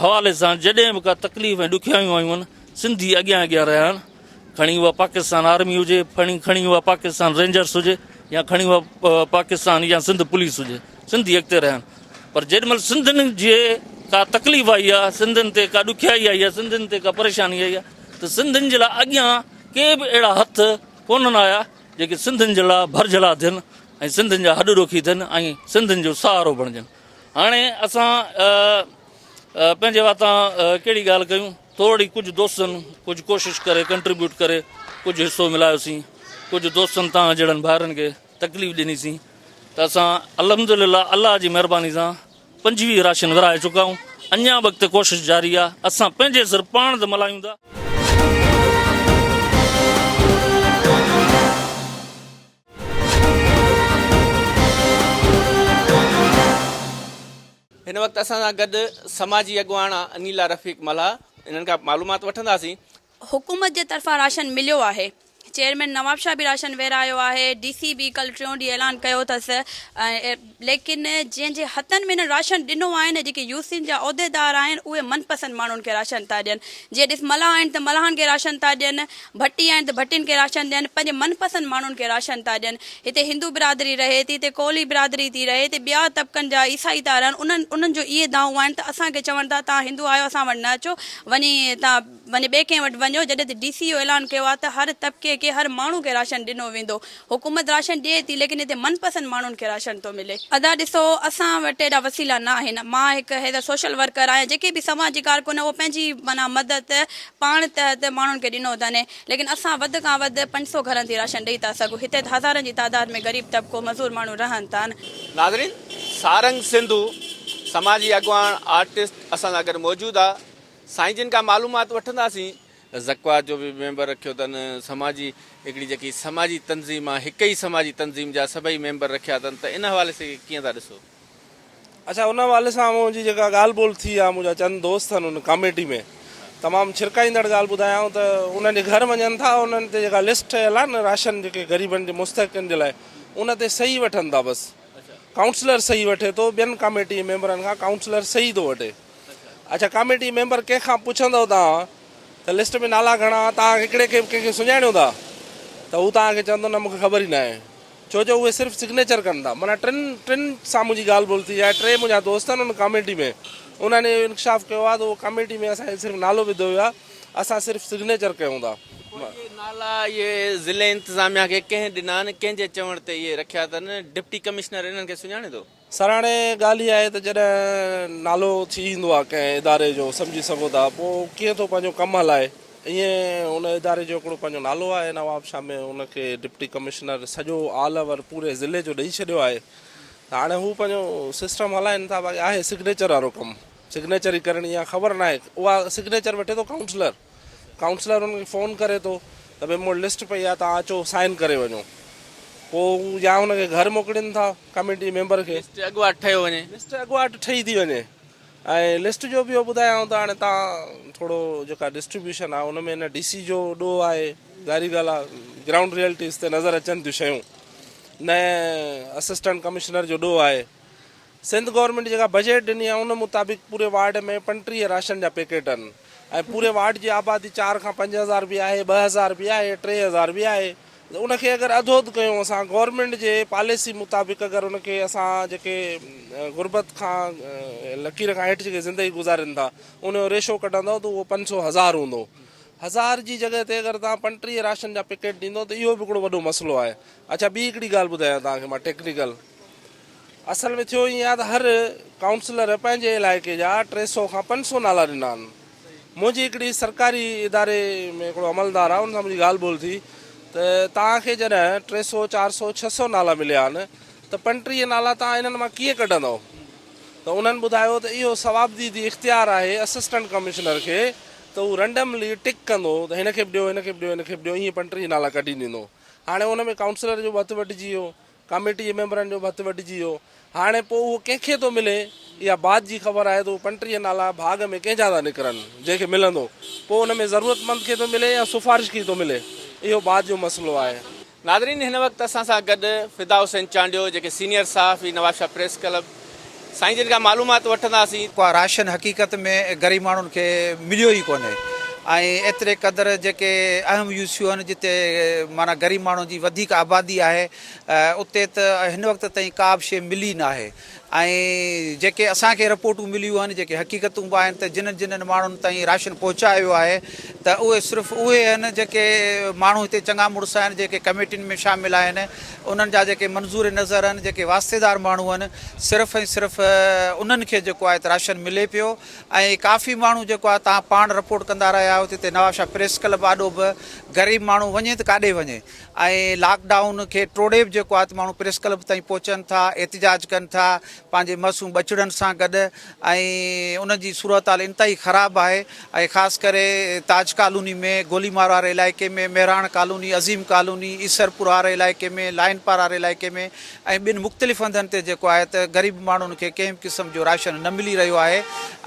[SPEAKER 18] حوالي سان جڏهن به ڪا تڪليف ۽ ڏکيائيون آيون آهن سنڌي اڳيان اڳيان رهيا آهن. کڻي اها پاڪستان آرمي هجي، کڻي کڻي اها پاڪستان رينجرس هجي يا کڻي اها پاڪستان يا سنڌ پوليس هجي، سنڌي اڳتي رهيا آهن پر جيڏي مهل سنڌين جي ڪا تڪليف آئي آهي، سنڌين تي ڪا ڏکيائي آئي آهي، سنڌين تي ڪا پريشاني آئي آهي ته سنڌين جي لاء اڳيان ڪي به اهڙا هٿ ڪونهن آيا جيڪي سنڌين جي لاء ڀرجهلا ٿين ۽ سنڌين جا هڏ ڏوکي ٿين ۽ سنڌين جو سهارو بڻجن. هاڻي اسان پنهنجي واتان ڪهڙي ڳالهه ڪيون؟ توڙي ڪجهه دوستن ڪجهه ڪوشش ڪري ڪنٽريبيوٽ ڪري ڪجهه حصو ملايو سين ڪجهه دوستن توهان جهڙن ڀائرن کي تڪليف ڏني سين ته اسان الحمدلله الله جي مهرباني سان پنجويهه راشن ورهائي چڪا آهيون اڃان به اڳتي ڪوشش جاري آهي اسان پنهنجي سر پاڻ ته ملايون ٿا.
[SPEAKER 1] هن وقت اسان سان گڏ سماجي اڳواڻ انيلا رفيق ملاح انهن کان معلومات وٺنداسين. حڪومت جي
[SPEAKER 19] طرفان راشن مليو آهي، چيئرمين نوابشاهه به راشن ورهايو آهي، ڊي سي به ڪلهه ٽيون ڏينهن اعلان ڪيو اٿس ليڪن جن جي هٿن ۾ هنن راشن ڏنو آهن جيڪي يو سين جا عهديدار آهن اهي من پسند ماڻهن کي راشن ٿا ڏين جي ڏس ملاح آهن ته ملاحن کي راشن ٿا ڏين ڀٽي آهن ته ڀٽين کي راشن ڏين، پنهنجي من پسند ماڻهن کي راشن ٿا ڏين. هتي هندو برادري رهي ٿي، هتي ڪولهي برادري ٿي رهي، هتي ٻيا طبقن جا عيسائي ٿا رهن، انهن انهن جو اهي دانهون آهن ته اسان کي چون ٿا توهان هندو آهيو اسان وٽ نه اچو وڃي توهان وڃي ٻئي ڪنهن وٽ وڃو جڏهن ته ڊي سي اهو اعلان ڪيو آهي ته هر طبقي کي هر ماڻهو کي راشن ڏنو ويندو حڪومت راشن ڏئي ٿي ليڪن هتي من پسند ماڻهن کي راشن ٿو ملي. ادا ڏسو اسان وٽ ايڏا وسيلا نه آهن مان هڪ ايز اي سوشل ورڪر آهيان جيڪي به سماجي ڪارڪن اهو پنهنجي معنيٰ مدد پاڻ تحت ماڻهن کي ڏنو اٿن ليڪن اسان وڌ کان وڌ پنج سو گهرن تي راشن ڏئي ٿا سگهون هتي هزارن جي تعداد ۾ غريب طبقو مزور ماڻهو رهن ٿا. ناظرين
[SPEAKER 1] سارنگ سنڌو سماجي اڳواڻ آرٽسٽ اسان سان گڏ موجود آ سائين جن کان معلومات وٺنداسين زڪوات جو به ميمبر رکيو تن، سماجي هڪڙي جيڪي سماجي تنظيم آ هڪ ئي سماجي تنظيم جا سڀئي ميمبر رکيا تن ته ان حوالي سي ڪيئن ٿا ڏسو؟ اچا
[SPEAKER 17] ان حوالي سان منهنجي جيڪا ڳالهه ٻولهه ٿي آ منهنجا چند دوست ٿن ان ڪاميٽي ۾ تمام ڇرڪائيندڙ ڳالهه ٻڌايائون ته انهن جي گهر وڃن ٿا انهن تي جيڪا لسٽ ٺهيل آ نه راشن جيڪي غريبن جي مستحقن جي لاء ان تي صحيح وٺن ٿا بس ڪائونسلر صحيح وٺي ٿو ٻين ڪاميٽي جي ميمبرن کان ڪائونسلر صحيح ٿو وٺي. اچا ڪاميٽي ميمبر ڪنهن کان پڇندؤ توهان ته لسٽ ۾ نالا گهڻا توهان هڪڙي کي به ڪنهن کي سڃاڻيو ٿا ته هو توهان کي چوندو نه مون کي خبر ئي ناهي ڇو جو اهي صرف سگنيچر ڪن ٿا معنيٰ ٽن ٽن سان منهنجي ڳالهه ٻولهه ٿي آهي ٽي منهنجا دوست آهن ان ڪاميٽي ۾ انهن اهو انڪشاف ڪيو آهي ته اهو ڪاميٽي ۾ اسان کي صرف نالو وڌو ويو آهي اسان صرف سگنيچر ڪيون ٿا پوء اهي نالا
[SPEAKER 1] اهي ضلعي انتظاميا کي ڪنهن ڏنا ۽ ڪنهن جي چوڻ تي اهي رکيا اٿن ڊپٽي ڪمشنر انهن کي سڃاڻي ٿو؟ سرهاڻي ڳالهه
[SPEAKER 17] هي آهي ته جڏهن نالو ٿي ايندو آهي ڪنهن اداري جو سمجهي سگهو ٿا پوء ڪيئن ٿو پنهنجو ڪم هلائي ائين ان اداري جو هڪڙو پنهنجو نالو آهي نوابشاهه ۾ ان کي ڊپٽي ڪمشنر سڄو آل اوور پوري ضلعي جو ڏئي ڇڏيو آهي ته هاڻي هو پنهنجو سسٽم هلائين ٿا باقي آهي سگنيچر وارو ڪم سگنيچر ئي ڪرڻي آهي خبر ناهي اها سگنيچر وٺي ٿو ڪائونسلر ڪائونسلر انهن کي فون ڪري ٿو ته ڀئي مون وٽ لسٽ پئي آهي توهان اچو سائن ڪري وڃو پوء هو يا هن کي گهر موڪلين ٿا ڪميٽي ميمبر کي. لسٽ اڳواٽ ٺهيو وڃي.
[SPEAKER 1] لسٽ اڳواٽ ٺهي ٿي
[SPEAKER 17] وڃي ۽ لسٽ جو به اهو ٻڌايائون ته هاڻي تان ٿورو جيڪا ڊسٽريبيوشن آهي ان ۾ هن ڊي سي جو ڏوهه آهي ظاهري ڳالهه آهي گرائونڊ ريئلٽيز تي نظر اچن ٿيون شيون نه اسسٽنٽ ڪمشنر جو ڏوهه آهي سنڌ گورنمينٽ جيڪا بجيٽ ڏني آهي ان مطابق پوري وارڊ ۾ پنٽيهه راشن جا پيڪيٽ آهن ۽ پوري وارڊ جي آبادي چار کان پنج هزار به آهي ٻه هزار به آهي ٽي هزار به آهي ان کي اگر اڌ اڌ ڪيون اسان گورنمينٽ جي پاليسي مطابق اگر ان کي اسان جيڪي غربت کان لڪير کان هيٺ جيڪي زندگي گذارين ٿا ان جو ريشو ڪڍندو ته اهو پنج سو هزار هوندو هزار جي جڳهه تي اگر توهان پنٽيهه راشن جا پيڪيٽ ڏيندو ته اهو به هڪڙو وڏو مسئلو آهي اڇا ٻي هڪڙي ڳالهه ٻڌايان توهان کي مان ٽيڪنيڪل اصل ۾ ٿيو ائين آهي ته هر ڪائونسلر پنهنجي علائقي جا ٽي سؤ کان پنج سؤ نالا ڏنا آهن. منهنجي هڪڙي سرڪاري اداري ۾ هڪڙو عملدار آهي ان سان منهنجي ڳالهه ٻولهه ٿي ته توهان کي جڏهن ٽي سؤ، چار سؤ، ڇهه سؤ نالا مليا آهن ته پنٽيهه نالا توهان انهن مان ڪيئن ڪڍندؤ؟ ته انهن ٻڌايو ته اهو صوابديدي اختيار آهي اسسٽنٽ ڪمشنر کي ته هو رنڊملي ٽڪ ڪندو ته هن کي به ڏيو، هن کي به ڏيو، هن کي به ڏيو ائين پنٽيهه نالا ڪڍي ڏيندو. هاڻي ان ۾ ڪائونسلر جو به هٿ وڍجي ويو. ڪاميٽي جي ميمبرن جو به هٿ وڍجي ويو. هاڻي پوء اهو ڪنهن کي ٿو ملي؟ اها بعد جي خبر آهي ته اهي پنٽيهه نالا ڀاڳ ۾ ڪنهن جا ٿا نڪرن؟ جنهن کي ملندو، پوء ان ۾ ضرورتمند کي ٿو ملي يا سفارش کي ئي ٿو ملي؟ اهو بعد جو مسئلو آهي. ناظرين هن وقت
[SPEAKER 1] اسان سان گڏ فدا حسين چانڊيو جيڪي سينيئر صحافي نوابشاهه پريس ڪلب، سائين جن کان معلومات وٺنداسين. ڪو راشن حقيقت
[SPEAKER 20] ۾ غريب ماڻهن کي مليو ئي ڪونهي ۽ ايتري قدر جيڪي اهم يو سيون آهن جتي معنيٰ غريب ماڻهن جي وڌيڪ آبادي آهي اتي ته هن وقت تائين ڪا به شيء ملي ناهي ۽ جيڪي اسان کي رپورٽون مليون آهن جيڪي حقيقتون به آهن ته جنهن جنهن ماڻهن تائين راشن پهچايو ويو آهي ته اهي صرف اهي آهن جيڪي ماڻهو هتي چڱا مڙس آهن جيڪي ڪميٽين ۾ شامل آهن انهن جا جيڪي منظور نظر آهن، جيڪي واسطيدار ماڻهو آهن، صرف ۽ صرف انهن کي جيڪو آهي ته راشن ملي پيو ۽ ڪافي ماڻهو جيڪو آهي تان پاڻ رپورٽ ڪندا رهيا آهيو ته هتي نوابشاهه پريس ڪلب آڏو به غريب ماڻهو وڃي ته ڪاڏي وڃي ۽ لاڪ ڊائون کي ٽوڙي به جيڪو آهي ته ماڻهو پريس ڪلب تائين پهچن ٿا، احتجاج ڪن ٿا، پنهنجي معصوم ٻچڙن سان گڏ. ۽ ان جي صورتحال انتهائي خراب آهي ۽ خاص ڪري تاج ڪالوني ۾ گولي مار واري علائقي ۾ مهراڻ ڪالوني عظيم ڪالوني ايسرپور واري علائقي ۾ لائن پار واري علائقي ۾ ۽ ٻين مختلف هنڌن تي جيڪو آهي ته غريب ماڻهن کي ڪنهن به قسم جو راشن نه ملي رهيو آهي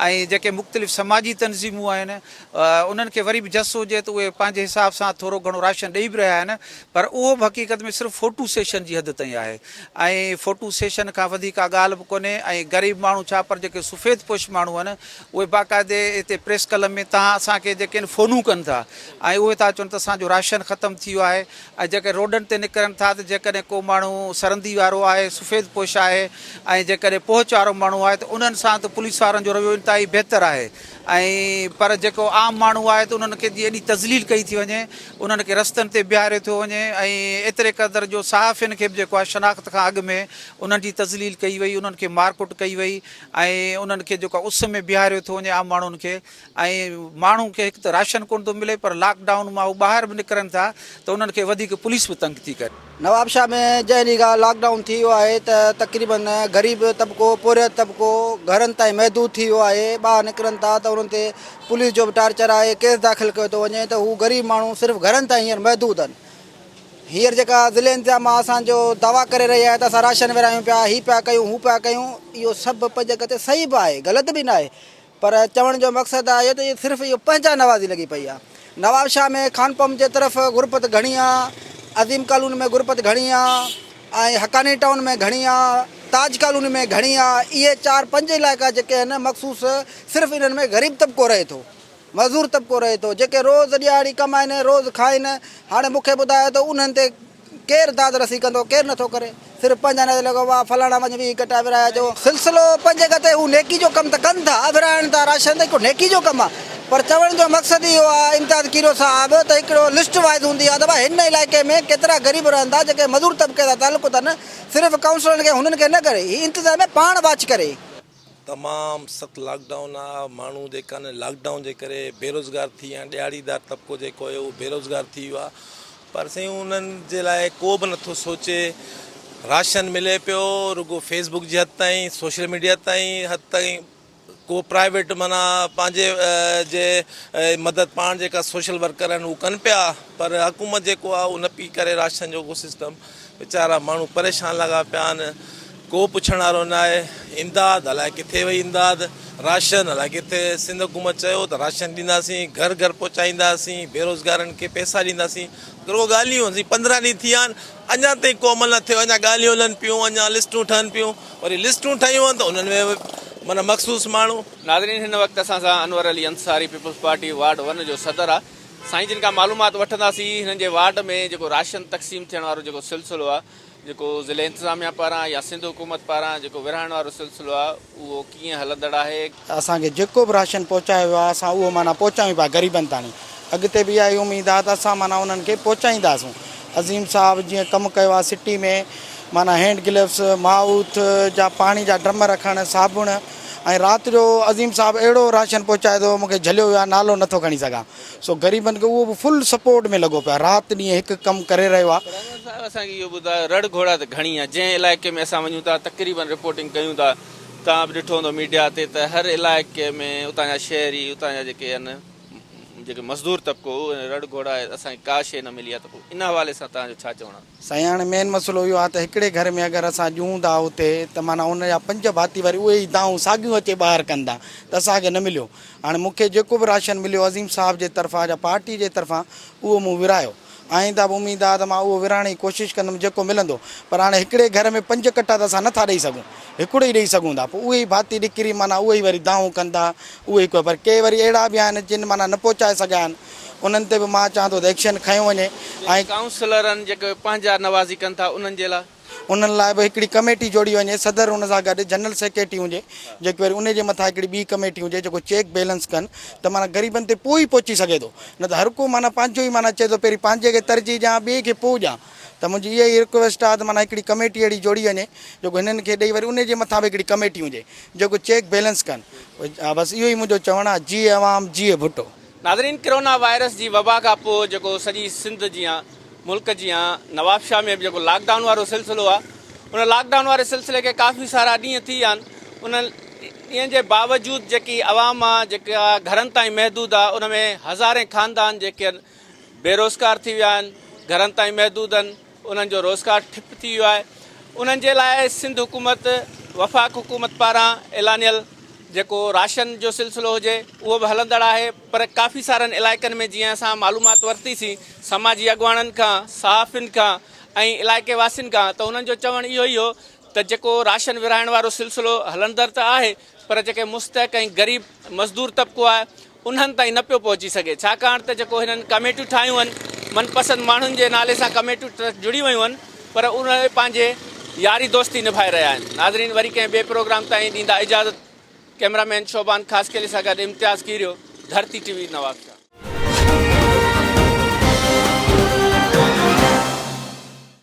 [SPEAKER 20] ۽ جيڪي مختلف سماجي تنظيمون آهن انهن کي وري به جس هجي ته اهي پنهنجي حساب سان ٿورو گهڻو راشن ڏئي به رهيا آهن پر اهو به حقيقت ۾ صرف فوٽو سيشن جي حد تائين آهي ۽ فوٽو سيشن کان وڌيڪ ڪا ڳالهه به ڪونهي ۽ غريب ماڻهو ڇا پر جيڪي سفيد پوش ماڻهو آهن اهي باقاعدي هتي پريس ڪلب ۾ تان اسان کي جيڪي آهن فونون ڪن ٿا ۽ اهي ٿا چون ته اسان جو راشن ختم ٿي ويو آهي ۽ جيڪي روڊن تي نڪرن ٿا ته جيڪڏهن ڪو ماڻهو سرندي وارو آهي سفيد پوش آهي ۽ جيڪڏهن پهچ وارو ماڻهو آهي ته انهن سان ته پوليس وارن جو رويو انتهائي بهتر آهي ۽ پر جيڪو عام ماڻهو آهي ته انهن کي جي ايڏي تذليل ڪئي ٿي وڃي، انهن کي رستن تي بيهاريو ٿيو وڃي ۽ ايتري قدر جو صحافين کي به جيڪو آهي شناخت کان اڳ ۾ انهن جي تذليل ڪئي وئي، انهن کي مارڪٽ ڪئي وئي ۽ انهن کي جيڪو آهي اس ۾ بيهاريو ٿيو وڃي عام ماڻهن کي ۽ ماڻهن کي هڪ ته راشن ڪونه ٿو ملي پر لاڪ ڊائون مان هو ٻاهر به نڪرن ٿا ته انهن کي وڌيڪ پوليس به تنگ ٿي ڪري. نوابشاهه ۾
[SPEAKER 16] جنهن ڏينهن کان لاڪ ڊائون ٿي ويو آهي ته تقريباً غريب طبقو پورهيت طبقو گهرن تائين محدود ٿي ويو آهي ٻاهر نڪرن ٿا ته انهن تي پوليس جو به ٽارچر آهي ڪيس داخل ڪيو ٿو وڃي ته هو غريب ماڻهو صرف گهرن تائين هينئر محدود آهن هينئر جيڪا ضلعي انتظامه اسان جو دعويٰ ڪري رهي آهي ته اسان راشن ورهايون پيا هي پيا ڪيون هو پيا ڪيون اهو سڀ پنهنجي جڳهه تي صحيح به آهي غلط به ناهي پر چوڻ جو مقصد آهي ته صرف اهو پنهنجا نوازي لڳي پئي آهي. نوابشاهه ۾ خانپم جي طرف غربت گهڻي آهي، عظيم ڪالوني ۾ غربت گهڻي آهي ۽ حقاني ٽائون ۾ گهڻي آهي، تاج ڪالوني ۾ گهڻي آهي. اهي چار پنج علائقا جيڪي آهن مخصوص صرف انهن ۾ غريب طبقو رهي ٿو، معذور طبقو رهي ٿو جيڪي روز ڏيهاڙي ڪمائين روز کائين. هاڻي مون کي ٻڌايو ته انهن تي ڪير داد رسي ڪندو ڪير نٿو ڪري صرف پنهنجا نظر لڳو واهه فلاڻا وڃ ويهه گٽا ورهايا جو سلسلو پنهنجي گتي هو نيڪي جو ڪم ته ڪن ٿا ورهائڻ ٿا راشن ته هڪڙو نيڪي جو ڪم آ پر چوڻ جو مقصد اهو آ امتياز کيرو صاحب ته هڪڙو لسٽ وائز هوندي آ ته ڀاء هن علائقي ۾ ڪيترا غريب رهن ٿا جيڪي مزور طبقي سان تعلق اٿن صرف ڪائونسلرن کي هنن کي نه ڪري هي انتظاميه پاڻ واچ ڪري. تمام
[SPEAKER 21] سخت لاڪ ڊائون آ ماڻهو جيڪا نه لاڪ ڊائون جي ڪري بيروزگار ٿي ويا آهن ڏهاڙي دار طبقو جيڪو هيو اهو بيروزگار ٿي ويو آ پر سائين انهن جي لاء ڪو به نٿو سوچي راشن ملي پيو رڳو فيسبوڪ جي حد تائين سوشل ميڊيا تائين حد تائين ڪو پرائيويٽ مانا پنهنجي جي مدد پاڻ جيڪا سوشل ورڪر آهن هو ڪن پيا پر حڪومت جيڪو آ اهو نه پئي ڪري راشن جو ڪو سسٽم ويچارا ماڻهو پريشان لڳا پيا آهن ڪو پڇڻ وارو نه آهي امداد الائي ڪٿي وئي امداد راشن الائي ڪٿي سنڌ حڪومت چيو ته راشن ڏينداسين گهر گهر پهچائينداسين بيروزگارن کي پئسا ڏينداسين رڳو ڳالهيون هن پندرهن ڏينهن ٿي ويا آهن اڃا تائين ڪو عمل نه ٿيو اڃا ڳالهيون هلن پيون اڃا لسٽون ٺهن پيون وري لسٽون ٺهيون آهن ته انهن ۾ معنيٰ مخصوص ماڻهو ناظرين هن وقت اسان
[SPEAKER 1] سان Anwar Ali Ansari peoples party ward one جو صدر آهي سائين جن کان معلومات وٺنداسين هنن جي وارڊ ۾ جيڪو راشن تقسيم ٿيڻ وارو جيڪو سلسلو آهي جيڪو ضلعي انتظاميا پاران يا سنڌ حڪومت پاران جيڪو ورهائڻ وارو سلسلو آهي اهو ڪيئن هلندڙ آهي. ته اسان کي جيڪو به
[SPEAKER 16] راشن پهچايو ويو آهي اسان اهو معنيٰ پهچايون پيا غريبن تاڻي اڳتي به اها ئي اميد آهي ته اسان معنيٰ انهن کي پهچائينداسون عظيم صاحب جيئن ڪم ڪيو آهي سٽي ۾ معنيٰ هينڊ گلوز مائوٿ جا پاڻي جا ڊرم رکڻ صابڻ ۽ رات جو عظيم صاحب اهڙو راشن پهچائي ٿو مونکي جهليو ويو آهي نالو نٿو کڻي سگهان سو غريبن کي اهو به فل سپورٽ ۾ لڳو پيو آهي رات ڏينهن هڪ ڪم ڪري رهيو آهي. پرويز صاحب اسان کي اهو ٻڌايو
[SPEAKER 1] رڙ گهوڙا ته گهڻي آهي جنهن علائقي ۾ اسان وڃون ٿا تقريبن رپورٽنگ ڪيون ٿا توهان به ڏٺو هوندو ميڊيا تي ته هر علائقي ۾ اتان جا شهري اتان جا جيڪي آهن جيڪي مزدور طبقو اهو رڙ گهوڙا آهي اسان کي ڪا شيء نه ملي آهي ته پوء ان حوالي سان توهان جو ڇا چوڻ آهي. سائين هاڻي مين مسئلو
[SPEAKER 16] اهو آهي ته هڪڙي گهر ۾ اگر اسان ڏيون ٿا اتي ته معنيٰ ان جا پنج ڀاتي وري اهي ئي دانهون ساڳيون اچي ٻاهر ڪن ٿا ته اسان کي نه مليو هاڻي مون کي جيڪو به راشن مليو عظيم صاحب جي طرفان يا پارٽي جي طرفان اهو مون ورايو آئنده به اميد آهي ته مان اهو ورهائڻ جي ڪوشش ڪندم جيڪو ملندو پر هاڻي هڪڙي گهر ۾ پنج ڪٽا ته اسان نه ٿا ڏئي سگهون هڪڙو ئي ڏئي سگهون ٿا پوء اهي ئي ڀاتي ڏڪري معنيٰ اهي ئي وري دانهون ڪن ٿا اهي ئي ڪو پر ڪي وري اهڙا به آهن جن معنيٰ نه پهچائي سگهيا آهن انهن تي به مان چاهان ٿو ته ايڪشن
[SPEAKER 1] کنيو
[SPEAKER 16] وڃي ۽
[SPEAKER 1] ڪائونسلرن
[SPEAKER 16] جيڪي
[SPEAKER 1] پنهنجا نوازي ڪن ٿا
[SPEAKER 16] انهن
[SPEAKER 1] جي
[SPEAKER 16] لاء.
[SPEAKER 1] انهن
[SPEAKER 2] لاء به هڪڙي ڪميٽي جوڙي وڃي صدر ان سان گڏ جنرل سيڪريٽري هجي جيڪي وري ان جي مٿان هڪڙي ٻي ڪميٽي هجي جيڪو چيڪ بيلنس ڪن ته معنيٰ غريبن تي پوء ئي پهچي سگهي ٿو نه ته هر ڪو معنيٰ پنهنجو ئي معنيٰ چئي ٿو پهرين پنهنجي کي ترجيح ڏيان ٻئي کي پوء ڏيان ته منهنجي اها ئي رڪويسٽ آهي ته معنيٰ هڪڙي ڪميٽي اهڙي جوڙي وڃي جيڪو هنن کي ڏئي وري ان جي مٿان به هڪڙي ڪميٽي هجي جيڪو چيڪ بيلنس ڪن بس اهو ئي منهنجو چوڻ آهي جيئي عوام جيئي ڀٽو. ناظرين ڪرونا
[SPEAKER 1] وائرس جي وبا کان پوء جيڪو سڄي سنڌ جيان ملڪ جيان نواب شاھ ۾ به جيڪو لاڪ ڊائون وارو سلسلو آ ان لاڪ ڊائون واري سلسلي کي ڪافي سارا ڏينهن ٿي ويا آھن انهن ڏينهن جي باوجود جيڪي عوام آ جيڪا گھرن تائين محدود آ ان ۾ هزارين خاندان جيڪي بيروزگار ٿي ويا آھن گھرن تائين محدود آھن انهن جو روزگار ٺپ ٿي ويو آهي انهن جي لاء سنڌ حڪومت وفاق حڪومت پاران اعلانيل جيڪو راشن جو سلسلو هجي اهو به هلندڙ آهي پر ڪافي سارن علائقن ۾ جيئن اسان معلومات ورتي سين سماجي اڳواڻن کان صحافين کان ۽ علائقي واسين کان ته انهن جو چوڻ اهو ئي هو ته جيڪو راشن ورهائڻ وارو سلسلو هلندر ته آهي پر جيڪي مستحق ۽ غريب مزدور طبقو آهي انهن تائين نه پيو پهچي سگهي ڇاڪاڻ ته جيڪو هنن ڪميٽيون ٺاهيون هن من پسند ماڻهن جي نالي سان ڪميٽيون ٽرسٽ جڙي ويون هن پر اهي پنهنجي ياري دوستي نڀائي رهيا آهن ناظرين وري ڪنهن ٻئي پروگرام تائين ڏيندا اجازت ڪئميرا مين شعبان خاصخيلي سان گڏ امتياز ڪيريو ڌرتي ٽي وي نوابشاهه.